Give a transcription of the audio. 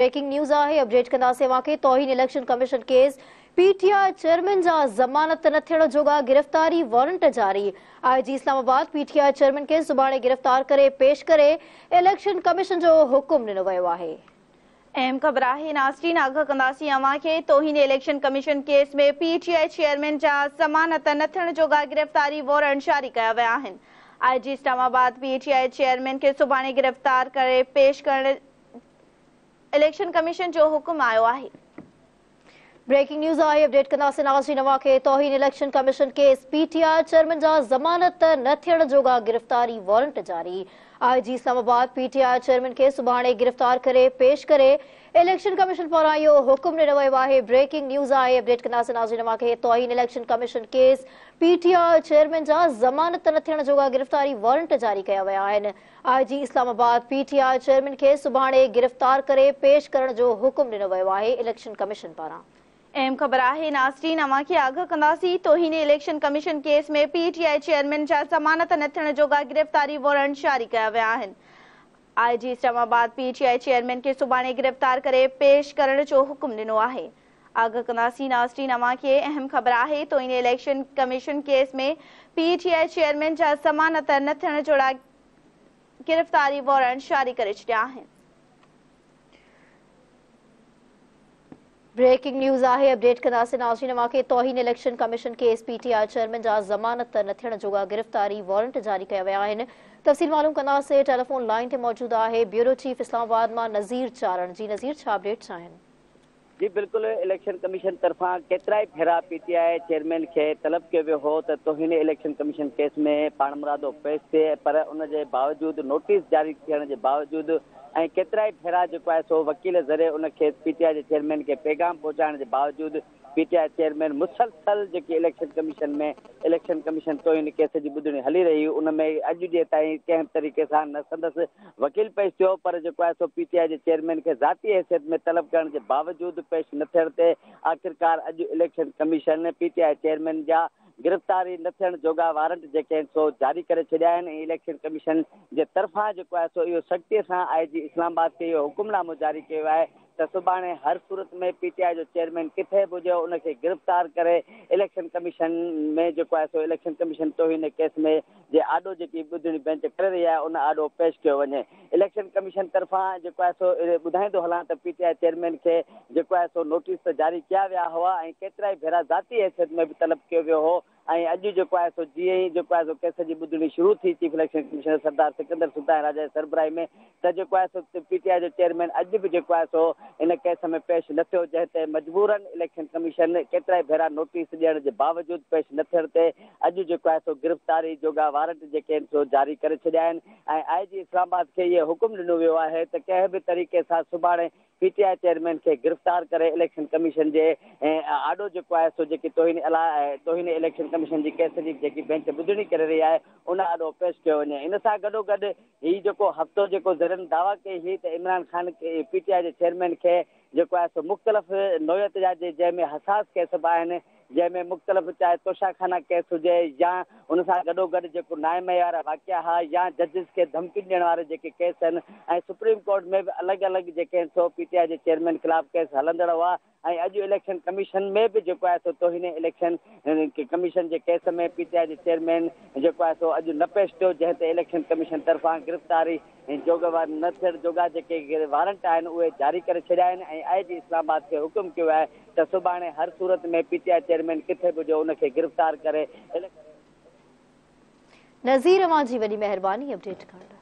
Breaking news آهي update ڪنداسين اوهان کي توهين election commission case P T I chairman جا ضمانت نه ٿيڻ جوڳا گرفتاري وارنٽ جاري I G Islamabad P T I chairman کي سڀاڻي گرفتار ڪري پيش ڪري اليڪشن ڪميشن جو حڪم ڏنو ويو آهي. اهم خبر آهي ناظرين آگاهه ڪنداسين اوهان کي توهين election commission case ۾ P T I chairman جا ضمانت نه ٿيڻ جوڳا گرفتاري وارنٽ جاري ڪيا ويا آهن I G Islamabad P T I chairman کي سڀاڻي گرفتار ڪري پيش ڪرڻ اليڪشن ڪميشن جو حڪم آيو آهي. بريڪنگ نيوز آهي اپڊيٽ ڪنداسين آجي نواء کي توهين election commission case P T I chairman جا ضمانت نه ٿيڻ جوڳا گرفتاري وارنٽ جاري I G Islamabad P T I chairman کي سڀاڻي گرفتار ڪري پيش ڪري اليڪشن ڪميشن پاران اهو حڪم ڏنو ويو آهي بريڪنگ نيوز آهي اپڊيٽ ڪنداسين آجي نواء کي توهين election commission case P T I chairman جا ضمانت نه ٿيڻ جوڳا گرفتاري وارنٽ جاري ڪيا ويا آهن I G Islamabad P T I chairman کي سڀاڻي گرفتار ڪري پيش ڪرڻ جو حڪم ڏنو ويو آهي اليڪشن ڪميشن پاران. اهم خبر آهي ناظرين اوهان کي آگاهه ڪنداسين توهين election commission case ۾ P T I chairman جا ضمانت نه ٿيڻ جوڳا گرفتاري وارنٽ جاري ڪيا ويا آهن I G Islamabad P T I chairman کي سڀاڻي گرفتار ڪري پيش ڪرڻ جو حڪم ڏنو آهي آغا قناصي ناسرين اوهان کي اهم خبر آهي تو ان election commission case ۾ P T I chairman جا ضمانت نه ٿيڻ جوڙا گرفتاري وارنٽ جاري ڪري ڇڏيا آهن. بريڪنگ نيوز آهي اپڊيٽ قناصي ناسرين اوهان کي توهين election commission case P T I chairman جا ضمانت نه ٿيڻ جوڳا گرفتاري وارنٽ جاري ڪيا ويا آهن تفصيل معلوم ڪنداسي ٽيليفون لائين تي موجود آهي بيورو چيف اسلام آباد مان نظير چارڻ جي نظير ڇا اپڊيٽس آهن. جي بلڪل اليڪشن ڪميشن طرفان ڪيترائي ڀيرا پي ٽي آء چيئرمين کي طلب ڪيو ويو هو ته توهين اليڪشن ڪميشن ڪيس ۾ پاڻمرادو پيش ٿئي پر ان جي باوجود نوٽيس جاري ٿيڻ جي باوجود ۽ ڪيترائي ڀيرا جيڪو آهي سو وڪيل ذريعي ان کيس پي ٽي آء جي چيئرمين کي پيغام پهچائڻ جي باوجود پي ٽي آء چيئرمين مسلسل جيڪي اليڪشن ڪميشن ۾ اليڪشن ڪميشن توهين ڪيس جي ٻڌڻي هلي رهي هئي ان ۾ اڄ جي تائين ڪنهن به طريقي سان نه سندس وڪيل پيش ٿيو پر جيڪو آهي سو پي ٽي آء جي چيئرمين کي ذاتي حيثيت ۾ طلب ڪرڻ جي باوجود پيش نه ٿيڻ تي آخرڪار اڄ election commission P T I chairman جا گرفتاري نه ٿيڻ جوڳا وارنٽ جيڪي آهن سو جاري ڪري ڇڏيا آهن ۽ اليڪشن ڪميشن جي طرفان جيڪو آهي سو اهو سختي سان آء جي اسلام آباد کي اهو حڪمنامو جاري ڪيو آهي ته سڀاڻي هر صورت ۾ پي ٽي آء جو چيئرمين ڪٿي به هجي ان کي گرفتار ڪري اليڪشن ڪميشن ۾ جيڪو آهي سو اليڪشن ڪميشن توهين ڪيس ۾ جي آڏو جيڪي ٻڌڻي بينچ ڪري رهي آهي ان آڏو پيش ڪيو وڃي اليڪشن ڪميشن طرفان جيڪو آهي سو ٻڌائيندو هلان ته پي ٽي آء چيئرمين کي جيڪو آهي سو نوٽيس ته جاري ڪيا ويا هئا ۽ ڪيترائي ڀيرا ذاتي حيثيت ۾ به طلب ڪيو ويو هو ۽ اڄ جيڪو آهي سو جيئن ئي جيڪو آهي سو ڪيس جي ٻڌڻي شروع ٿي chief election commissioner Sardar Sikandar Sultan Raja جي سربراهي ۾ ته جيڪو آهي سو پي ٽي آء جو چيئرمين اڄ به جيڪو آهي سو ان ڪيس ۾ پيش نه ٿيو جنهن تي مجبورن اليڪشن ڪميشن ڪيترائي ڀيرا نوٽيس ڏيڻ جي باوجود پيش نه ٿيڻ تي اڄ جيڪو آهي سو گرفتاري جوڳا وارنٽ جيڪي آهن سو جاري ڪري ڇڏيا آهن ۽ آء جي اسلام آباد کي اهي حڪم ڏنو ويو آهي ته ڪنهن به طريقي سان سڀاڻي پي ٽي آء چيئرمين کي گرفتار ڪري اليڪشن ڪميشن جي آڏو جيڪو آهي سو جيڪي توهين توهين اليڪشن ڪميشن جي ڪيس جي جيڪي بينچ ٻڌڻي ڪري رهي آهي ان آڏو پيش ڪيو وڃي ان سان گڏوگڏ هي جيڪو هفتو جيڪو ذريعن دعويٰ ڪئي هئي ته Imran Khan P T I جي چيئرمين کي جيڪو آهي سو مختلف نوعيت جا جنهن ۾ حساس ڪيس به آهن جنهن ۾ مختلف چاهي توشاخانه ڪيس هجي يا ان سان گڏوگڏ جيڪو نامعيار واقعا ها يا ججز کي ڌمڪين ڏيڻ وارا جيڪي ڪيس هن ۽ سپريم ڪورٽ ۾ به الڳ الڳ جيڪي هن سو پي ٽي آء جي چيئرمين خلاف ڪيس هلندڙ هئا ۽ اڄ اليڪشن ڪميشن ۾ به جيڪو آهي سو توهين اليڪشن ڪميشن جي ڪيس ۾ پي ٽي آء جي چيئرمين جيڪو آهي سو اڄ نه پيش ٿيو جنهن تي اليڪشن ڪميشن طرفان گرفتاري هن جوڳ وارن نه ٿيڻ جوڳا جيڪي وارنٽ آهن اهي جاري ڪري ڇڏيا آهن ۽ آء جي اسلام آباد کي حڪم ڪيو آهي ته سڀاڻي هر صورت ۾ پي ٽي آء چيئرمين ڪٿي به هجي ان کي گرفتار ڪري اليڪشن نظير اوهان جي وڏي مهرباني اپڊيٽ ڪرڻ لاء.